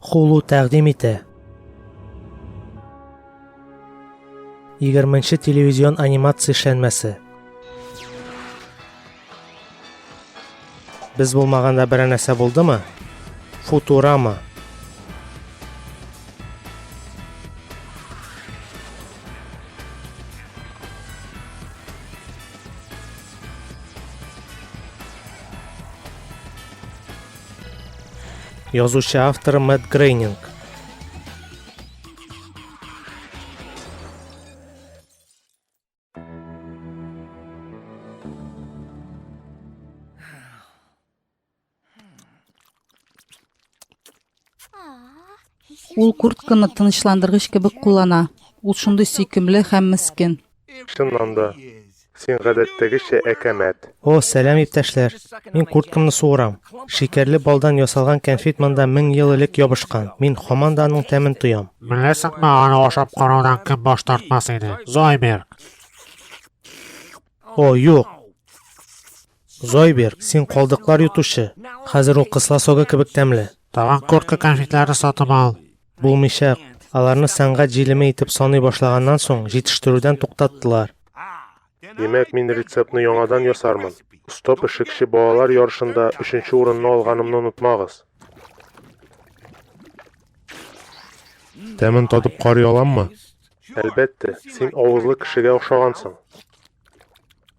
Хулу тәкъдим итә. 20 телевизион анимация эшләнмәсе. Без булмаганда берәр нәрсә булдымы? Футурама. Язучы авторы Мэтт Грейнинг. Ул куртканы тынычландыргыч кебек куллана. Ул шундый сөйкемле һәм мескен. Чыннан да, син гадәттәгечә әкәмәт. О, сәлам, иптәшләр! Мин курткамны суырам. Шикәрле балдан ясалган кәнфит монда мең ел элек ябышкан. Мин һаман да аның тәмен тоям. Беләсеңме, аны ашап караудан кем баш тартмас иде? Зойберг! О, юк! Зойбер, син калдыклар йотучы! Хәзер ул кысла согы кебек тәмле. Тагын куртка конфетлары сатып ал! Булмыйчак. Аларны сәнгать җилеме итеп саный башлаганнан соң, җитештерүдән туктаттылар. Димәк, мин рецептны яңадан ясармын. Оста пешекче балалар ярышында өченче урынны алганымны онытмагыз! Тәмен татып карый аламмы? Әлбәттә, син авызлы кешегә охшагансың.